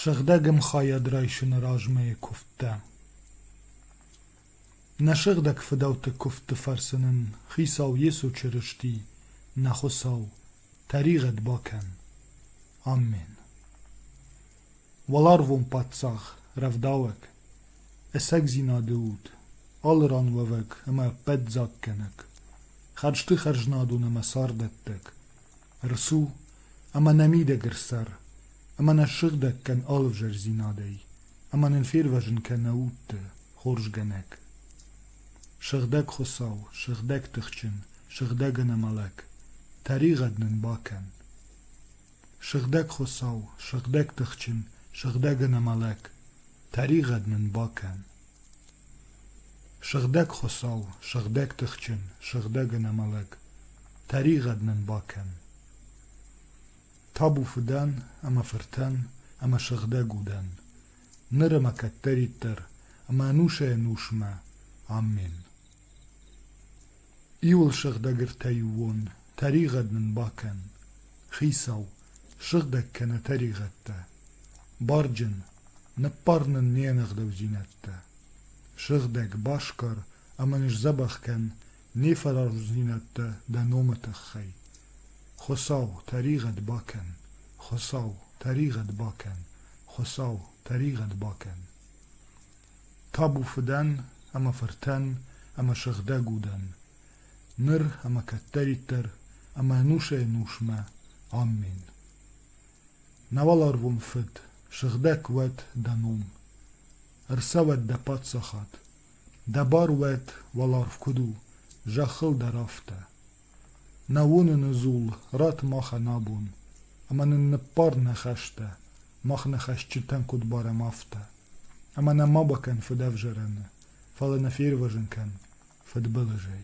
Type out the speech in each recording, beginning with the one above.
Сыгъдӕг ӕмхайад райсыны размӕйы куывдтӕ. Нӕ сыгъдӕг фыдӕлты куывдты фӕрцы нын Хицау Йесо Чырысти, нӕ Хуыцау, Тӕригъӕд бакӕн, Аммен! Уӕларвон паддзах, рӕвдауӕг, ӕцӕгдзинады уд, алы ран уӕвӕг ӕмӕ ӕппӕт дзагкӕнӕг, хӕрзты хӕрзнадон ӕмӕ цардӕттӕг, рцу ӕмӕ нӕ мидӕгыр цӕр, ӕмӕ нӕ ссыгъдӕг кӕн алывзӕрдзинадӕй, ӕмӕ нын фервӕзын кӕ нӕ удты хорзгӕнӕг. Сыгъдӕг Хуыцау, сыгъдӕг тыхджын, сыгъдӕг ӕнӕмӕлӕг, тӕригъӕд нын бакӕн! Сыгъдӕг Хуыцау, сыгъдӕг тыхджын, сыгъдӕг ӕнӕмӕлӕг, тӕригъӕд нын бакӕн! Сыгъдӕг Хуыцау, сыгъдӕг тыхджын, сыгъдӕг ӕнӕмӕлӕг, тӕригъӕд нын бакӕн! Табу фыдӕн ӕмӕ фыртӕн ӕмӕ сыгъдӕг удӕн, ныр ӕмӕ кӕддӕриддӕр ӕмӕ ӕнусӕй-ӕнусмӕ. Аммен. Иуыл сыгъдӕг ӕртӕиуон, тӕригъӕд нын бакӕн. Хицау, сыгъдӕг кӕнӕ тӕригъӕдтӕ. Барджын, ныббар нын не нӕгъдӕудзинӕдтӕ. Сыгъдӕг, баскар ӕмӕ ныздзӕбӕх кӕн Нефӕразудзинӕдтӕ дӕ номы тыххӕй. Хуыцау, тӕригъӕд бакӕн! Хуыцау, тӕригъӕд бакӕн! Хуыцау, тӕригъӕд бакӕн! Табу фыдӕн ӕмӕ фыртӕн ӕмӕ сыгъдӕг удӕн, ныр ӕмӕ кӕддӕриддӕр ӕмӕ ӕнусӕй-ӕнусмӕ. Амин. Науал арвон фыд, сыгъдӕг уӕд дӕ ном. Ӕрцӕуӕд дӕ паддзахад, Дӕ бар уӕд, уӕларв куыд у, зӕххыл дӕр афтӕ. Нӕ уыныны дзул ратт махӕн абон, ӕмӕ нын ныббар нӕ хӕстӕ, мах нӕ хӕсджытӕн куыд барӕм, афтӕ. Ӕмӕ нӕ ма бакӕн фыдӕвзарӕны, фӕлӕ нӕ фервӕзын кӕн фыдбылызӕй.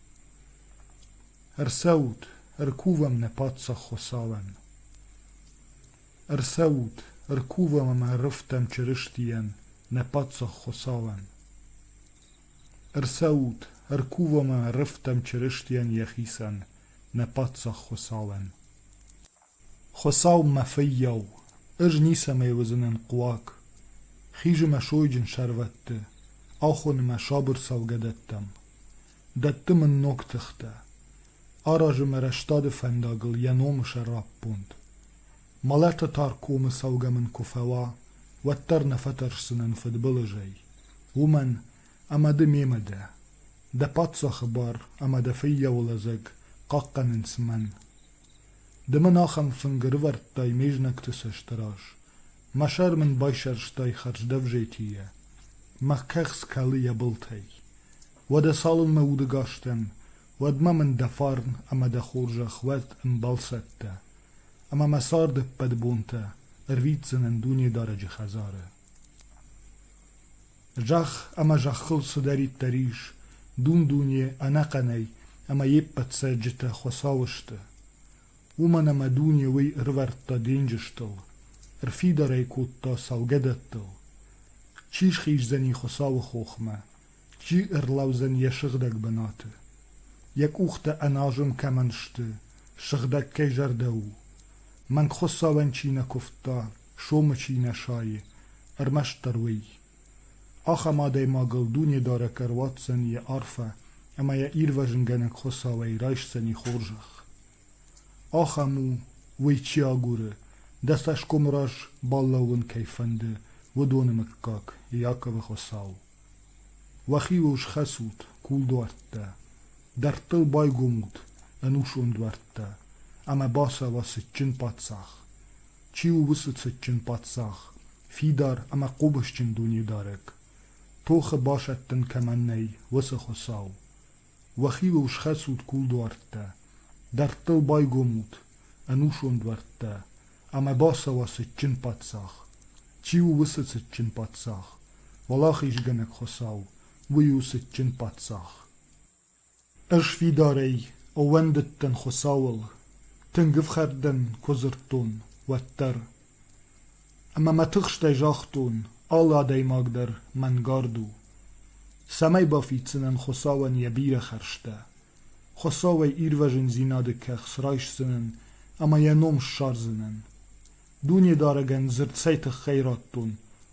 Ӕрцӕут, ӕркувӕм нӕ паддзахы цалӕн. Ӕрцӕут, ӕркувӕм ӕмӕ ӕррывтам Чырыстийӕн нӕ паддзахы цалӕн. Ӕрцӕут, ӕркувӕм ӕмӕ ӕррывтам Чырыстийӕн йӕхицӕн нӕ паддзахы цалӕн. Хуыцау мӕ фыййау, ӕз ницӕмӕй уыдзынӕн хъуаг. Хизы мӕ сойджын сӕрвӕтты, ахоны мӕ сабыр цӕугӕдӕттӕм. Дӕтты мын ног тыхтӕ, аразы мӕ рӕстады фӕндагыл йӕ номы сӕраппонд. Мӕлӕты тар комы цӕугӕ мын куы фӕуа, уӕддӕр нӕ фӕтӕрсдзынӕн фыдбылызӕй. Уымӕн, ӕмӕ ды мемӕ дӕ. Дӕ паддзахы бар ӕмӕ дӕ фыййауы лӕдзӕг хъахъхъӕнынц мӕн. Ды мын ахӕм фынг ӕрывӕрдтай ме знӕгты цӕсты раз, мӕ сӕр мын байсӕрстай хӕрздӕвзетийӕ, мӕ кӕхц кӕлы йӕ былтӕй. Уӕдӕ цалынмӕ удыгӕстӕн, уӕдмӕ мын дӕ фарн ӕмӕ дӕ хорзӕх уӕд ӕмбал цӕттӕ, ӕмӕ мӕ царды ӕппӕт бонтӕ ӕрвитдзынӕн Дунедарӕджы хӕдзары. Зӕхх ӕмӕ зӕххыл цыдӕриддӕр ис, дун-дуне ӕнӕхъӕнӕй ӕмӕ йе ппӕт цӕджджытӕ хуыцау сты. Уымӕн ӕмӕ дуне уый ӕрывӕрдта денджызтыл, ӕрфидар ӕй кодта цӕугӕдӕттыл. Чи схиздзӕни Хуыцауы хохмӕ, Чи ӕрлӕудзӕн йӕ сыгъдӕг бынаты? Йӕ къухтӕ ӕназон кӕмӕн сты, сыгъдӕг кӕй зӕрдӕ у? Мӕнг Хуыцауӕн чи нӕ куывта, сомы чи нӕ сайы, ӕрмӕстдӕр уый. Ахӕм адӕймагыл Дунедарӕг ӕруадздзӕн йӕ арфӕ ӕмӕ йӕ Ирвӕзынгӕнӕг Хуыцауӕй райсдзӕни хорзӕх. Ахӕм у, уый чи агуры, дӕ цӕсгомы раз балӕууын кӕй фӕнды, уыдоны мыггаг, Иаковы Хуыцау. Уӕхиуыл схӕцут, кулдуӕрттӕ, дӕрдтыл байгомут ӕнусон дуӕрттӕ ӕмӕ бацӕуа цытджын паддзах. Чи у уыцы цытджын паддзах, фидар ӕмӕ хъомысджын дунедарӕг? Тохы басӕттын кӕмӕн нӕй, уыцы Хуыцау! Уӕхилыл схӕцут кулдуӕрттӕ, дӕрдтыл байгомут ӕнусон дуӕрттӕ ӕмӕ бацӕуа цытджын паддзах. Чи у уыцы цытджын паддзах? Уӕлахизгӕнӕг Хуыцау, уый у цытджын паддзах. Ӕз фидарӕй ӕууӕндыдтӕн Хуыцауыл, тынг ӕфхӕрд дӕн куы дзырдтон, уӕддӕр. Ӕмӕ мӕ тыхстӕй загътон, алы адӕймаг дӕр мӕнгард у, цӕмӕй бафиддзынӕн Хуыцауӕн йӕ бирӕ хӕрзтӕ, Хуыцауӕй ирвӕзындзинады кӕхц райсдзынӕн ӕмӕ йӕ ном ссардзынӕн. Дунедарӕгӕн дзырд цӕй тыххӕй радтон,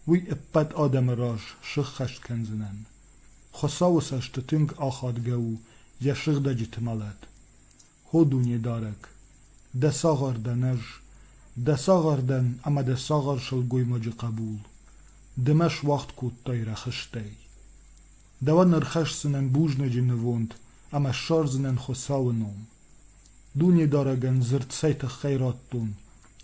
уый ӕппӕт адӕмы раз сыххӕст кӕндзынӕн. Хуыцауы цӕсты тынг ахадгӕ у йӕ сыгъдӕджыты мӕлӕт. Хо Дунедарӕг, дӕ цагъар дӕн ӕз, дӕ цагъар дӕн ӕмӕ дӕ цагъар сылгоймаджы хъӕбул, ды мӕ суӕгъд кодтай рӕхыстӕй. Дӕуӕн ӕрхӕсдзынӕн бузнаджы нывонд ӕмӕ ссардзынӕн Хуыцауы ном. Дунедарӕгӕн дзырд цӕй тыххӕй радтон,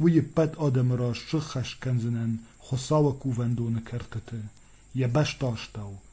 уый ӕппӕт адӕмы раз сыххӕст кӕндзынӕн Хуыцауы кувӕндоны кӕртыты, йӕ бӕстастӕу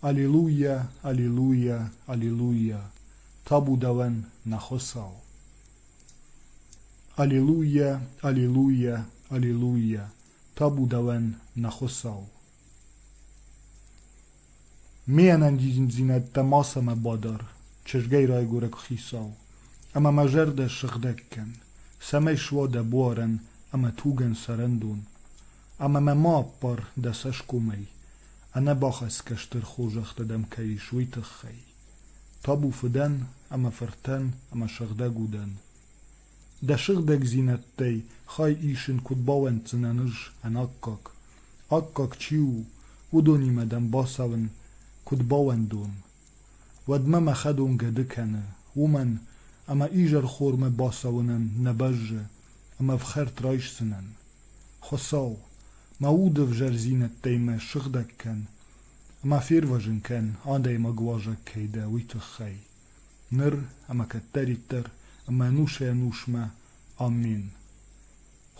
Аллилуйя, аллилуйя, аллилуйя, табу давӕн нӕ Хуцау! Аллилуйя, аллилуйя, аллилуйя, табу давӕн нӕ Хуцау! Миенӕн диндзийнӕдтӕ мацӕмӕ бадар, чызгай райгорӕг хицау, ӕма мӕ зӕрдӕ сыгъдӕг кӕн, цӕмӕй суа дӕ буарӕн ӕма тугӕн сӕрӕндон. Ӕмӕ мӕ ма аппар дӕ цӕсгомӕй, ӕнӕбахӕцгӕ стыр хорзӕхтӕ дӕм кӕй ис, уый тыххӕй. Табу фыдӕн ӕмӕ фыртӕн ӕмӕ сыгъдӕг удӕн. Дӕ сыгъдӕгдзинӕдтӕй хай исын куыд бауӕнддзынӕн ӕз ӕнаккаг? Аккаг чи у, уыдонимӕ дӕм бацӕуын куыд бауӕндон, Уӕдмӕ мӕ хӕдон гӕды кӕны, уымӕн ӕмӕ изӕрхормӕ бацӕуынӕн нӕ бӕззы ӕмӕ ӕфхӕрд райсдзынӕн. Хуыцау, мӕ уды ӕвзӕрдзинӕдтӕй мӕ ссыгъдӕг кӕн ӕмӕ фервӕзын кӕн адӕймаг уазӕг кӕй дӕ, уый тыххӕй. Ныр ӕмӕ кӕддӕриддӕр ӕмӕ ӕнусӕй-ӕнусмӕ Амин.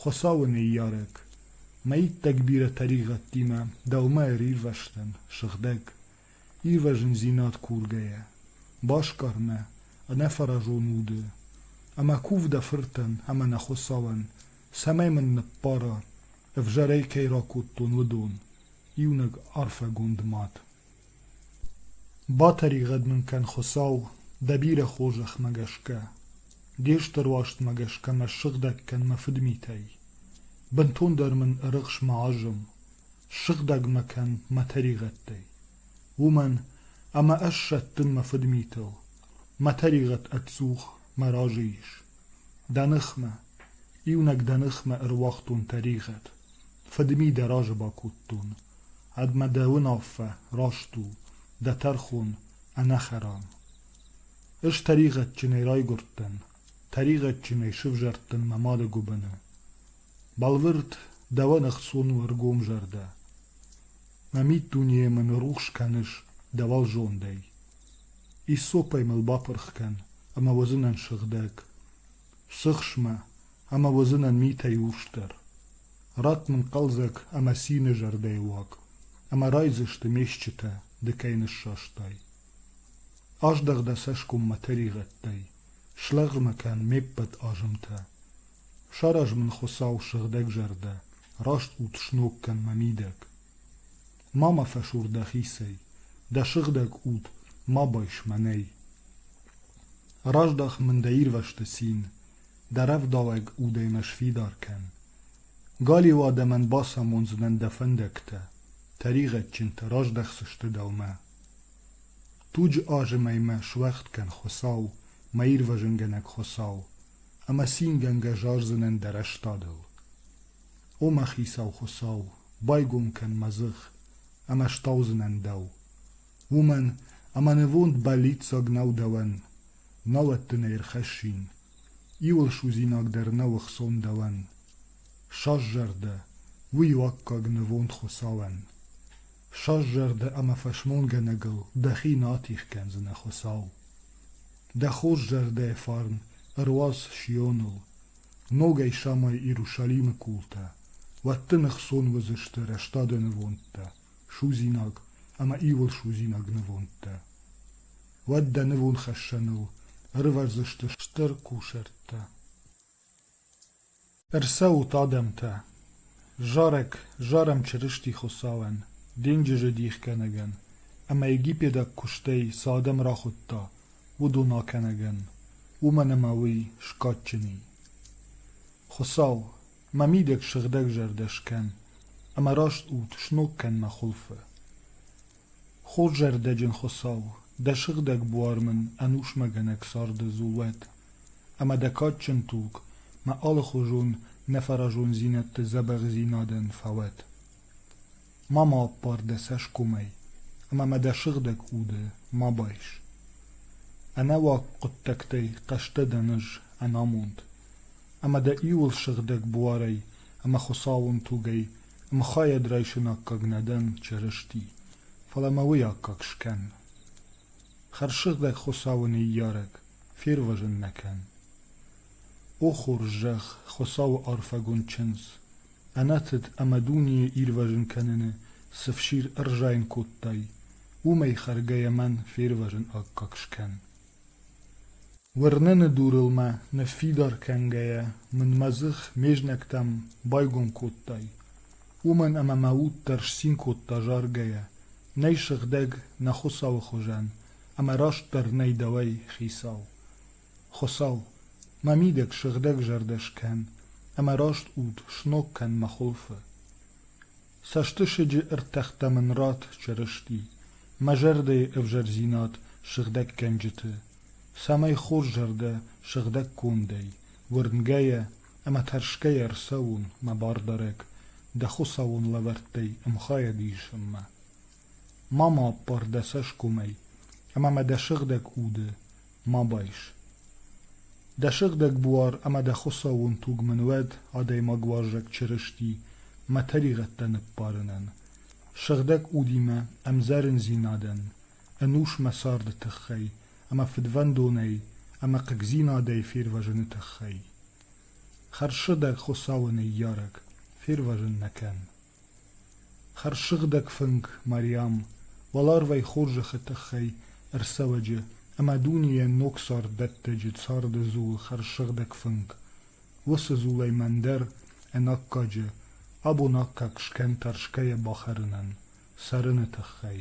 Хуыцауы ныййарӕг, мӕ иттӕг бирӕ тӕригъӕдтимӕ дӕумӕ ӕрирвӕзтӕн, сыгъдӕг, Ивӕзындзинад кургӕйӕ, баскъӕрмӕ, ӕнӕфӕразон уды, ӕмӕ кув дӕ фыртӕн ӕмӕ нӕ Хуыцауӕн, цӕмӕй мын ныббара, ӕвзӕрӕй кӕй ракодтон, уыдон, иунӕг арфӕгонд мад. Батӕригъӕд мын кӕн, Хуыцау, дӕ бирӕ хорзӕхмӕ гӕсгӕ. де стыр уарзтмӕ гӕсгӕ мӕ ссыгъдӕг кӕн мӕ фыдмитӕй. Бынтондӕр мын ӕрыхс мӕ азым, Ссыгъдӕг мӕ кӕн мӕ тӕригъӕдтӕй, уымӕн ӕмӕ ӕз сӕттын мӕ фыдмитыл, мӕ тӕригъӕд ӕдзух мӕ разы ис. Дӕ ныхмӕ, иунӕг дӕ ныхмӕ ӕруагътон тӕригъӕд, фыдми дӕ разы бакодтон, ӕдмӕ дӕ уынаффӕ раст у, дӕ тӕрхон ӕнӕхӕрам. Ӕз тӕригъӕдджынӕй райгуырдтӕн, тӕригъӕдджынӕй сывзӕрдтӕн мӕ мады гуыбыны. Бӕлвырд дӕуӕн ӕхцон у ӕргом зӕрдӕ. Нӕ миддунейӕ мын рухс кӕныс дӕ уӕлзондӕй. Иссопӕй мыл бапырх кӕн, ӕмӕ уыдзынӕн сыгъдӕг. Сыхс мӕ, ӕмӕ уыдзынӕн митӕй урсдӕр. Ратт мын хъӕлдзӕг ӕмӕ цины зӕрдӕйы уаг, ӕмӕ райдзысты ме стджытӕ, ды кӕй ныссастай. Аздӕх дӕ цӕсгоммӕ тӕригъӕдтӕй, слӕгъмӕ кӕн ме ппӕт азымтӕ, Сараз мын Хуыцау сыгъдӕгзӕрдӕ, Раст ут сног кӕн мӕ мидӕг. Ма мӕ фӕсур дӕхицӕй, Дӕ сыгъдӕг уд ма байс мӕнӕй. Раздах мын дӕ ирвӕзты цин, Дӕ рӕвдауӕг удӕй мӕ сфидар кӕн. Галиу адӕмӕн бацамондзынӕн дӕ фӕндӕгтӕ, Тӕригъӕдджынтӕ раздӕхдзысты дӕумӕ. Туджы азымӕй мӕ суӕгъд кӕн, Хуыцау, мӕ ирвӕзынгӕнӕг Хуыцау, ӕмӕ цингӕнгӕ зардзынӕн дӕ рӕстадыл. О, мӕ хицау Хуыцау, байгом кӕн мӕ дзых, ӕмӕ стаудзынӕн дӕу. Уымӕн ӕмӕ нывонд бӕллиццаг нӕу дӕуӕн, науӕд дын ӕй ӕрхӕссин, иуыл судзинаг дӕр нӕу ӕхцон дӕуӕн. Сӕззӕрдӕ, уый у аккаг нывонд Хуыцауӕн. Ссӕрст зӕрдӕ ӕмӕ фӕсмонгӕнӕгыл дӕхи натих кӕндзынӕ Хуыцау. Дӕ хорз зӕрдӕйы фарн ӕруадз Сионыл, ногӕй самай Иерусалимы култӕ, уӕд дын ӕхцон уыдзысты рӕстады нывондтӕ, судзинаг ӕмӕ иуыл судзинаг нывондтӕ. Уӕд дӕ нывонхӕссӕныл ӕрывӕрдзысты стыр кусӕрттӕ. Ӕрцӕут адӕмтӕ, зарӕг зарӕм Чырысти Хуыцауӕн, денджызы дихгӕнӕгӕн ӕмӕ египедаг куыстӕй цы адӕм рахуыдта, уыдон акӕнӕгӕн, уымӕн ӕмӕ уый скадджын и. Хуыцау, мӕ мидӕг сыгъдӕгзӕрдӕ скӕн ӕмӕ раст ут сног кӕн мӕ хуылфы. Хорзӕрдӕджын Хуыцау, дӕ сыгъдӕг буар мын ӕнусмӕгӕнӕг царды дзул уӕд, ӕмӕ дӕ кадджын туг мӕ алыхуызон нӕфӕразондзинӕдты дзӕбӕхдзинадӕн фӕуӕд. Ма ма ӕппар дӕ цӕсгомӕй, ӕмӕ ма дӕ сыгъдӕг уды ма байс. Ӕнӕуаг хъуыддӕгтӕй хъӕстӕ дӕн ӕз ӕнамонд, ӕмӕ дӕ иуыл сыгъдӕг буарӕй ӕмӕ Хуыцауон тугӕй Мхайӕд райсын аккаг нӕ дӕн Чырысти, фӕлӕ мӕ уый аккаг скӕн. Хӕрзсыгъдӕг Хуыцауы ныййарӕг, фервӕзын нӕ кӕн. О хорз зӕгъ Хуыцауы арфӕгонд чындз, ӕнӕтыд ӕмӕ дунейы ирвӕзын кӕныны цы фсир ӕрзайын кодтай, уымӕй хӕргӕйӕ мӕн фервӕзын аккаг скӕн. Уырныны дурыл мӕ, ныффидар кӕнгӕйӕ, мын мӕ дзых ме знӕгтӕм байгом кодтай, уымӕн ӕмӕ мӕ уд дӕр сцин кодта заргӕйӕ, нӕй сыгъдӕг нӕ Хуыцауы хуызӕн ӕмӕ растдӕр нӕй дӕуӕй хицау. Хуыцау, мӕ мидӕг сыгъдӕг зӕрдӕ скӕн ӕмӕ раст уд сног кӕн мӕ хуылфы. Цӕстысыджы ӕртӕхтӕ мын ратт Чырысти, мӕ зӕрдӕйы ӕвзӕрдзинад сыгъдӕггӕнджыты, цӕмӕй хорз зӕрдӕ сыгъдӕг кондӕй, уырнгӕйӕ ӕмӕ тӕрсгӕйӕ ӕрцӕуон мӕ бардарӕг дӕ Хуыцауон лӕвӕрттӕй ӕмхайад исынмӕ. Ма ма аппар дӕ цӕсгомӕй, ӕмӕ мӕ дӕ сыгъдӕг уды Ма байс. Дӕ сыгъдӕг буар ӕмӕ дӕ хуыцауон туг мын уӕд адӕймагуарзаг Чырысти мӕ тӕригъӕдтӕ ныппарынӕн, сыгъдӕг удимӕ ӕмдзӕрындзинадӕн, ӕнус мӕ царды тыххӕй ӕмӕ фыдвӕндонӕй ӕмӕ хъыгдзинадӕй фервӕзыны тыххӕй. Хӕрзсыгъдӕг Хуыцауы ныййарӕг, фервӕзын нӕ кӕн. Хӕрзсыгъдӕг фынг Мариам уӕларвӕй хорзӕхы тыххӕй ӕрцӕуӕджы ӕмӕ дунейӕн ног царддӕттӕджы царды дзулы хӕрзсыгъдӕг фынг. Уыцы дзулӕй мӕн дӕр ӕнаккаджы, абон аккаг скӕн тӕрсгӕйӕ бахӕрынӕн, цӕрыны тыххӕй.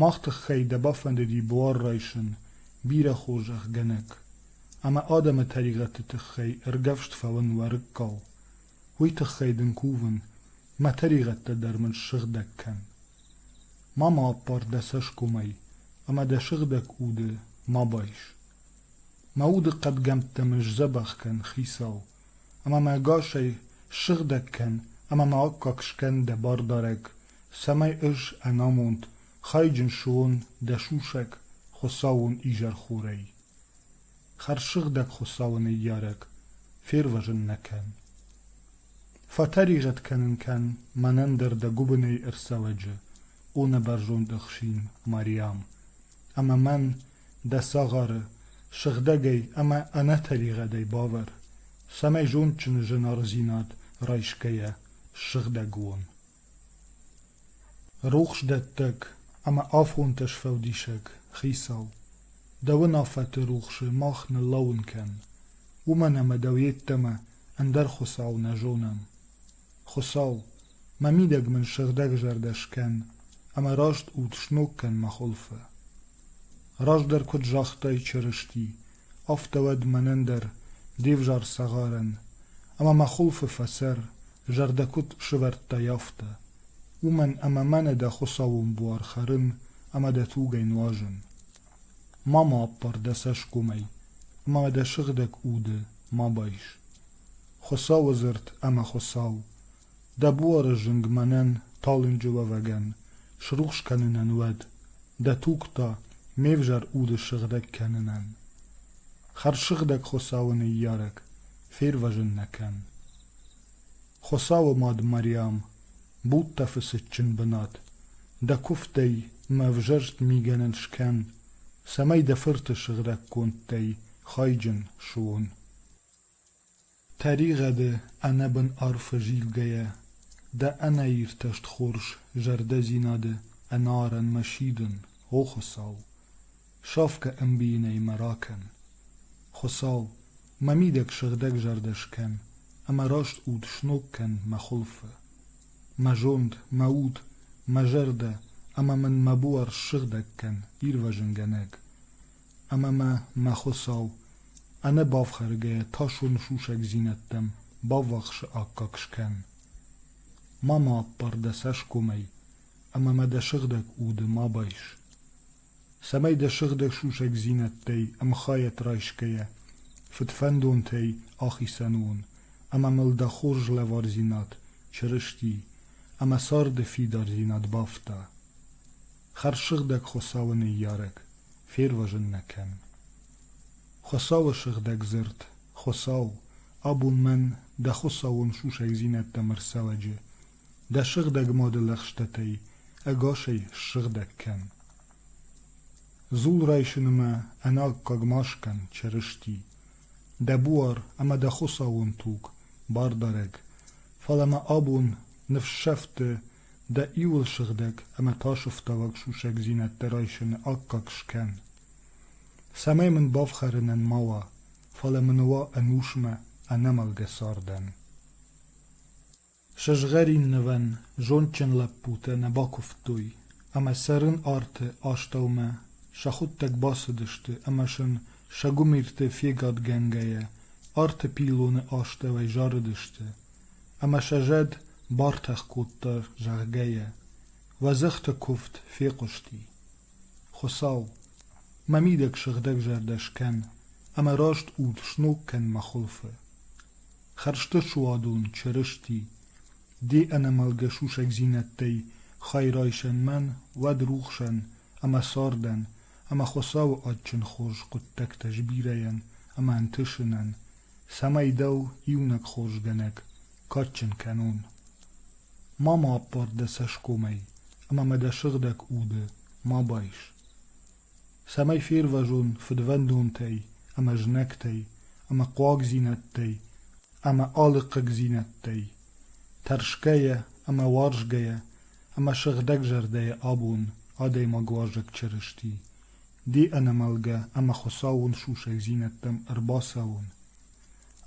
Мах тыххӕй дӕ бафӕндыди буар райсын, бирӕ хорзӕхгӕнӕг, ӕмӕ адӕмы тӕригъӕдты тыххӕй ӕргӕвст фӕуын уӕрыккау, уый тыххӕй дын кувын, мӕ тӕригъӕдтӕ дӕр мын ссыгъдӕг кӕн. Ма ма аппар дӕ цӕсгомӕй, ӕмӕ дӕ сыгъдӕг уды ма байс. Мӕ уды хъӕдгӕмттӕ мын сдзӕбӕх кӕн, хицау, ӕмӕ мӕ ӕгасӕй ссыгъдӕг кӕн ӕмӕ ма аккаг скӕн дӕ бардарӕг цӕмӕй ӕз ӕнамонд, хайджын суон дӕ сусӕг Хуыцауон изӕрхорӕй. Хӕрзсыгъдӕг Хуыцауы ныййарӕг, фервӕзын нӕ кӕн. Фӕтӕригъӕд кӕнын кӕн мӕнӕн дӕр дӕ гуыбынӕй ӕрцӕвӕджы, о нӕбӕрзонд ӕхсин Мариам, ӕмӕ мӕн, дӕ цагъары, сыгъдӕгӕй ӕмӕ ӕнӕтӕригъӕдӕй бавӕр, цӕмӕй зондджын зынаргъдзинад райсгӕйӕ сыгъдӕг уон. Рухсдӕттӕг ӕмӕ афонтӕ сфӕлдисӕг, хицау, дӕ уынаффӕты рухсы мах ныллӕууын кӕн, уымӕн ӕмӕ дӕу йеддӕмӕ ӕндӕр хуыцау нӕ зонӕм. Хуыцау, мӕ мидӕг мын сыгъдӕгзӕрдӕ скӕн ӕмӕ раст уд сног кӕн мӕ хуылфы. Раздӕр куыд загътай Чырысти, афтӕ уӕд мӕнӕн дӕр, де взӕр цагъарӕн, ӕмӕ мӕ хуылфы фӕсӕр, зӕрдӕ куыд сывӕрдтай, афтӕ. Уымӕн ӕмӕ мӕнӕ дӕ хуыцауон буар хӕрын ӕмӕ дӕ тугӕй нуазын. Ма ма аппар дӕ цӕсгомӕй, ӕмӕ дӕ сыгъдӕг уды ма байс. Хуыцауы дзырд ӕмӕ Хуыцау, Дӕ буары зынг мӕнӕн, талынджы уӕвӕгӕн, срухс кӕнынӕн уӕд, дӕ туг та ме взӕр уды сыгъдӕг кӕнынӕн. Хӕрзсыгъдӕг Хуыцауы ныййарӕг, фервӕзын нӕ кӕн. Хуыцауы мад Мариам, будтӕ фыцытджын бынат, дӕ куывдӕй мӕ ӕвзӕрст мигӕнӕн скӕн, цӕмӕй дӕ фырты сыгъдӕгкондтӕй хайджын суон. Тӕригъӕды ӕнӕбын арфы зилгӕйӕ дӕ ӕнӕиртӕст хорз зӕрдӕдзинады ӕнӕарӕнмӕ сидын, о Хуыцау, сафгӕ ӕмбийынӕй мӕ ракӕн! Хуыцау, мӕ мидӕг сыгъдӕгзӕрдӕ скӕн ӕмӕ раст уд сног кӕн мӕ хуылфы. Мӕ зонд, мӕ уд, мӕ зӕрдӕ ӕмӕ мын мӕ буар ссыгъдӕг кӕн, ирвӕзынгӕнӕг. Ӕмӕ мӕ, мӕ Хуыцау, ӕнӕ бафхӕргӕйӕ тӕсоны сусӕгдзинӕдтӕм баввахсы аккаг скӕн. Ма ма аппар дӕ цӕсгомӕй ӕмӕ ма дӕ сыгъдӕг уды ма байс. Цӕмӕй дӕ сыгъдӕг сусӕгдзинӕдтӕй ӕмхайад райсгӕйӕ, фыдфӕндонтӕй ахицӕн уон, ӕмӕ мыл дӕ хорз лӕвардзинад Чырысти ӕмӕ царды фидардзинад бафта. Хӕрзсыгъдӕг Хуыцауы ныййарӕг, фервӕзын нӕ кӕн. Хуыцауы сыгъдӕг дзырд, Хуыцау, абон мӕн дӕ хуыцауон сусӕгдзинӕдтӕм ӕрцӕлӕджы, дӕ сыгъдӕг мады лӕгъстӕтӕй ӕгасӕй ссыгъдӕг кӕн. Дзул райсыны ма ӕнаккаг ма скӕн Чырысти, дӕ буар ӕмӕ дӕ хуыцауон туг, бардарӕг, фӕлӕ ма абон ныфссӕфты Дӕ иуыл сыгъдӕг ӕмӕ тасӕфтауӕг сусӕгдзинӕдтӕ райсыны аккаг скӕн. Цӕмӕй мын бафхӕрынӕн ма уа, фӕлӕ мын уа ӕнусмӕ ӕнӕмӕлгӕ цардӕн. Сызгъӕриннывӕн зондджын лӕппутӕ нӕ бакуывтой, ӕмӕ цӕрын арты астӕумӕ сӕхуыдтӕг бацыдысты ӕмӕ сын, сӕ гуымирты фегадгӕнгӕйӕ, арты пиллоны астӕуӕй зарыдысты, ӕмӕ сӕ зӕд бартӕх кодта, зӕгъгӕ йӕ уӕ дзыхты куывд фехъуысти. Хуыцау, мӕ мидӕг сыгъдӕгзӕрдӕ скӕн ӕмӕ раст уд сног кӕн мӕ хуылфы. Хӕрзты суадон Чырысти, де ӕнӕмӕлгӕ сусӕгдзинӕдтӕй хай райсӕн мӕн, уӕд рухсӕн ӕмӕ цардӕн ӕмӕ Хуыцауы адджын хорз хъуыддӕгтӕ сбирӕйӕн ӕмӕ ӕнтысынӕн цӕмӕй дӕу иунӕг хорзгӕнӕг кадджын кӕнон. ма ма аппар дӕ цӕсгомӕй ӕмӕ ма дӕ сыгъдӕг уды ма байс цӕмӕй фервӕзон фыдвӕндонтӕй ӕмӕ знӕгтӕй ӕмӕ хъуагдзинӕдтӕй ӕмӕ алыхъыгдзинӕдтӕй тӕрсгӕйӕ ӕмӕ уарзгӕйӕ ӕмӕ сыгъдӕгзӕрдӕйӕ абон адӕймагуарзаг чырысти Ди ӕнӕмӕлгӕ ӕмӕ Хуыцауон сусӕгдзинӕдтӕм ӕрбацӕуон,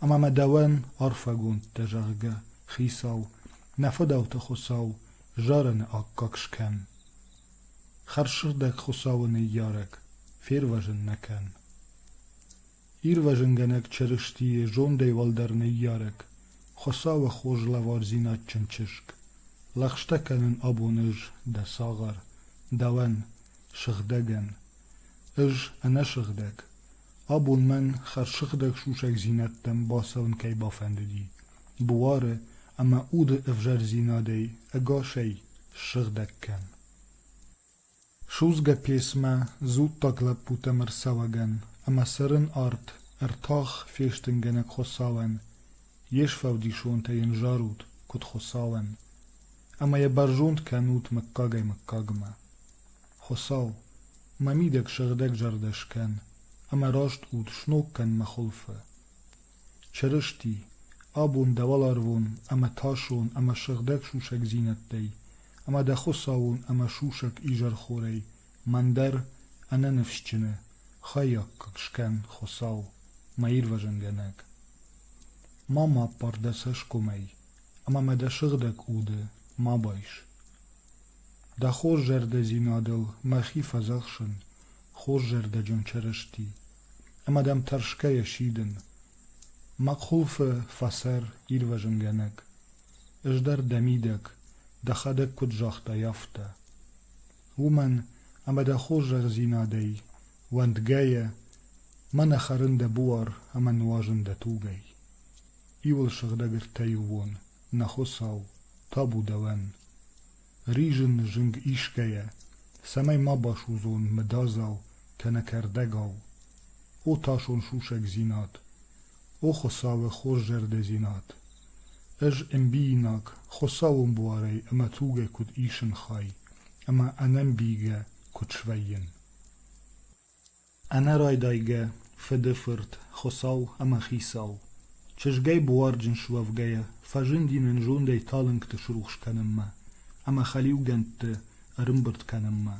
ӕмӕ мӕ дӕуӕн арфӕгонд дӕ, зӕгъгӕ, Хицау, нӕ фыдӕлты Хуыцау, зарыны аккаг скӕн. Хӕрзсыгъдӕг Хуыцауы ныййарӕг, фервӕзын нӕ кӕн. Ирвӕзынгӕнӕг Чырыстийы зондӕй уӕлдӕр ныййарӕг, Хуыцауы хорз лӕвардзинадджын чызг, лӕгъстӕ кӕнын абон ӕз, дӕ цагъар, дӕуӕн, сыгъдӕгӕн. Ӕз ӕнӕсыгъдӕг. Абон мӕн хӕрзсыгъдӕг сусӕгдзинӕдтӕм бацӕуын кӕй бафӕндыди, буары ӕмӕ уды ӕвзӕрдзинадӕй ӕгасӕй ссыгъдӕг кӕн. Судзгӕ песмӕ дзуттаг лӕппутӕм ӕрцӕуӕгӕн ӕмӕ цӕрын арт ӕртах фестынгӕнӕг Хуыцауӕн, йе сфӕлдисонтӕ йын зарут, куыд Хуыцауӕн, ӕмӕ йӕ бӕрзонд кӕнут мыггагӕй мыггагмӕ. Хуыцау, мӕ мидӕг сыгъдӕг зӕрдӕ скӕн ӕмӕ раст уд сног кӕн мӕ хуылфы. Чырысти, абон дӕ уӕларвон ӕмӕ тӕсон ӕмӕ сыгъдӕг сусӕгдзинӕдтӕй ӕмӕ дӕ Хуыцауон ӕмӕ сусӕг изӕрхорӕй мӕн дӕр ӕнӕныфсджыны хаййаггаг скӕн, Хуыцау, мӕ Ирвӕзынгӕнӕг. Ма ма аппар дӕ цӕсгомӕй ӕмӕ ма дӕ сыгъдӕг уды ма байс. Дӕ хорз зӕрдӕдзинадыл мӕхи фӕдзӕхсын, хорз зӕрдӕджын Чырысти, ӕмӕ дӕм тӕрсгӕйӕ сидын. Мӕ къуылфы фӕсӕр ирвӕзынгӕнӕг, ӕз дӕр дӕ мидӕг, дӕхӕдӕг куыд загътай, афтӕ. Уымӕн ӕмӕ дӕ хорзӕхдзинадӕй уӕндгӕйӕ, мӕ нӕ хӕрын дӕ буар ӕмӕ нуазын дӕ тугӕй. Иуыл сыгъдӕг ӕртӕйы уон, нӕ Хуыцау, табу дӕуӕн! Ризын зынг исгӕйӕ, цӕмӕй ма басудзон мыдадзау кӕнӕ кӕрдӕгау, о тасон сусӕгдзинад, о Хуыцауы хорззӕрдӕдзинад, ӕз ӕмбийнаг Хуыцауон буарӕй ӕмӕ тугӕй куыд исын хай ӕмӕ ӕнӕмбийгӕ куыд свӕййын. Ӕнӕрайдайгӕ фыды фырт, Хуыцау ӕмӕ Хицау, чызгӕй буарджын суӕвгӕйӕ, фӕзынди нын зондӕй талынгты срухс кӕнынмӕ ӕмӕ хӕлиугӕндты ӕрымбырд кӕнынмӕ.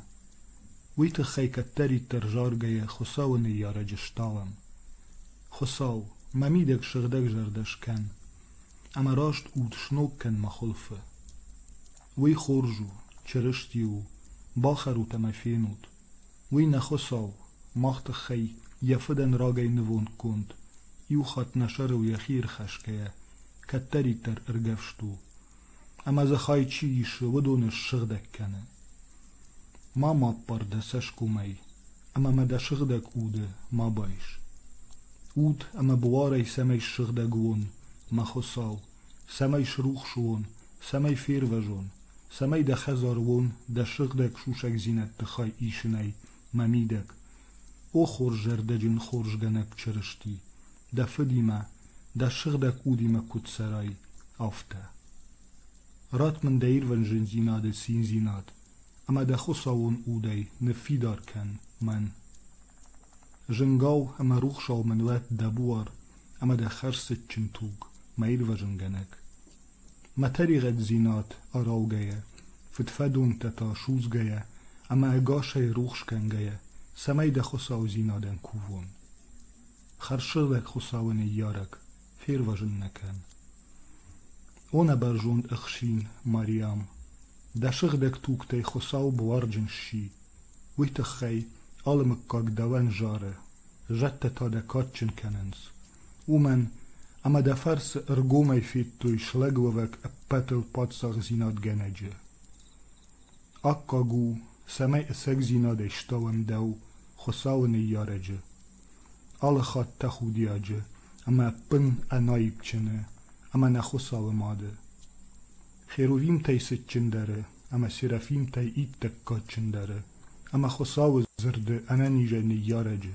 Уый тыххӕй кӕддӕриддӕр заргӕйӕ Хуыцауы ныййарӕджы стӕлӕм. «Хуыцау, мӕ мидӕг сыгъдӕгзӕрдӕ скӕн, ӕмӕ раст уд сног кӕн мӕ хуылфы. Уый хорз у, Чырысти у, бахӕрут ӕмӕ фенут, Уый нӕ Хуыцау, мах тыххӕй йӕ фыдӕн рагӕй нывондгонд, иу хатт нӕ сӕрыл йӕхи ирхӕсгӕйӕ, кӕддӕриддӕр ӕргӕвст у, ӕмӕ дзы хай чи исы, уыдоны ссыгъдӕг кӕны. Ма ма аппар дӕ цӕсгомӕй, ӕмӕ ма дӕ сыгъдӕг уды ма байс. Уд ӕмӕ буарӕй цӕмӕй ссыгъдӕг уон, мӕ Хуыцау, цӕмӕй срухс уон, цӕмӕй фервӕзон, цӕмӕй дӕ хӕдзаруон, дӕ сыгъдӕг сусӕгдзинӕдты хай исынӕй ма мидӕг, о хорз зӕрдӕджын хорзгӕнӕг Чырысти, дӕ фыдимӕ, дӕ сыгъдӕг удимӕ куыд цӕрай, афтӕ. Ратт мын дӕ ирвӕн зындзинады циндзинад, ӕмӕ дӕ Хуыцауон удӕй ныффидар кӕн мӕн. Зынгау ӕмӕ рухсау мын уӕд дӕ буар ӕмӕ дӕ хӕрзцытджын туг, мӕ ирвӕзынгӕнӕг. Мӕ тӕригъӕддзинад араугӕйӕ, фыдфӕдонтӕ та судзгӕйӕ ӕмӕ ӕгасӕй рухс кӕнгӕйӕ, цӕмӕй дӕ хуыцаудзинадӕн кувон. Хӕрзсыгъдӕг Хуыцауы ныййарӕг, фервӕзын нӕ кӕн. О нӕ бӕрзонд ӕхсин Мариам, дӕ сыгъдӕг тугтӕй Хуыцау буарджын сси. Уый тыххӕй алы мыггаг дӕуӕн зары, зӕдтӕ та дӕ кадджын кӕнынц. уымӕн ӕмӕ дӕ фӕрцы ӕргомӕй федтой слӕгуӕвӕг ӕппӕтыл паддзахдзинадгӕнӕджы. Аккаг у, цӕмӕй ӕцӕгдзинадӕй стауӕм дӕу, Хуыцауы ныййарӕджы, алыхатт тӕхудиаджы ӕмӕ ӕппын ӕнаипджыны ӕмӕ нӕ Хуыцауы мады. Херувимтӕй цытджындӕры ӕмӕ серафимтӕй иттӕг кадджындӕры ӕмӕ Хуыцауы дзырды ӕнӕнизӕй ныййарӕджы.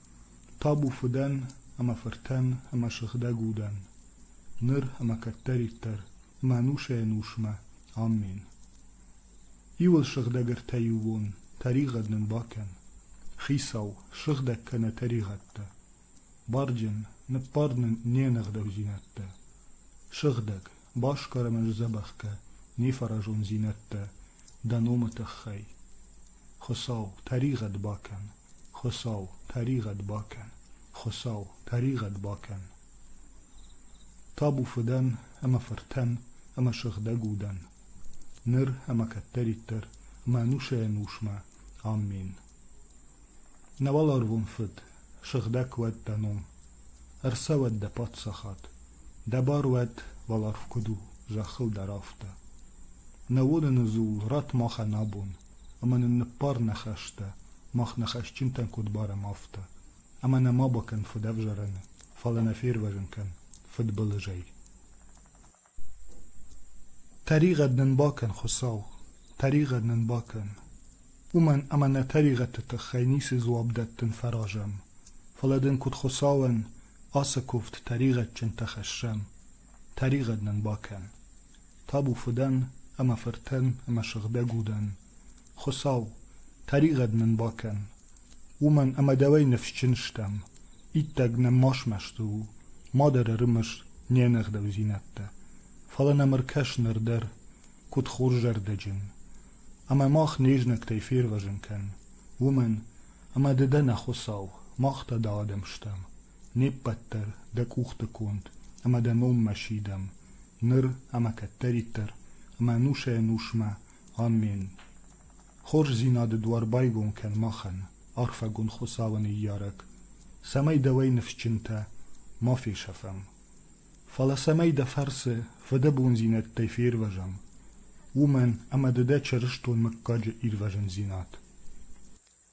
Табу фыдӕн ӕмӕ фыртӕн ӕмӕ сыгъдӕг удӕн, ныр ӕмӕ кӕддӕриддӕр мӕнусӕй-ӕнусмӕ, аммен! Иуыл сыгъдӕг ӕртӕ иубон тӕригъӕд нын бакӕн, хицау, сыгъдӕг кӕнӕ тӕригъӕдтӕ! Барджын, ныббар нын не ныгъдӕгдзинӕдтӕ! Сыгъдӕг, басгар ӕмӕ сдзӕбӕх кӕ не фӕразондзинӕдтӕ дӕ номы тыххӕй. Хуыцау, тӕригъӕд бакӕн! Хуыцау, тӕригъӕд бакӕн! Хуыцау, тӕригъӕд бакӕн! Табу фыдӕн ӕмӕ фыртӕн ӕмӕ сыгъдӕг удӕн, ныр ӕмӕ кӕддӕриддӕр, мӕ ӕнусӕй-ӕнусмӕ. Амин. Нӕ уӕларвон Фыд, сыгъдӕг уӕд дӕ ном, Ӕрцӕуӕд дӕ паддзахад, Дӕ бар уӕд уӕларв куыд у, Зӕххыл дӕр афтӕ. Нӕ уылыны дзул ратт махӕн абон, Ӕмӕ нын ныббар нӕ хӕстӕ, Мах нӕ хӕсджынтӕн куыд барӕм афтӕ. Ӕмӕ нӕ ма бакӕн фыдӕвзарӕны, Фӕлӕ нӕ фервӕзын кӕн фыдбылызӕй. Тӕригъӕд нын бакӕн, Хуыцау, тӕригъӕд нын бакӕн, уымӕн ӕмӕ нӕ тӕригъӕдты тыххӕй ницы дзуапп дӕттын фӕразӕм, фӕлӕ дын куыд Хуыцауӕн ацы куывд тӕригъӕдджынтӕ хӕссӕм, тӕригъӕд нын бакӕн, табу фыдӕн ӕмӕ фыртӕн ӕмӕ сыгъдӕг удӕн, Хуыцау, тӕригъӕд нын бакӕн, уымӕн ӕмӕ дӕуӕй ныфсджын стӕм, иттӕг нӕм ма смӕсты у, ма дӕр ӕрымыс не нӕгъдӕудзинӕдтӕ, фӕлӕ нӕм ӕркӕс ныр дӕр, куыд хорзӕрдӕджын, ӕмӕ мах не знӕгтӕй фервӕзын кӕн, уымӕн ӕмӕ ды дӕ нӕ Хуыцау, мах та дӕ адӕм стӕм, не ппӕт дӕр дӕ къухты конд ӕмӕ дӕ номмӕ сидӕм, ныр ӕмӕ кӕддӕриддӕр ӕмӕ ӕнусӕй-ӕнусмӕ Амин! Хорздзийнади дуар байгон кӕн махӕн, арфӕгун Хуцауӕн иййарӕг, цӕмӕй дӕуӕй нифсджынтӕ ма фесафӕм. Фалӕ цӕмӕй дӕ фӕрцы фӕдӕбондзийнӕдтӕй фервӕзӕм, уомӕн ӕма ди дӕ чырыстон муггаджи ирвӕзундзинад.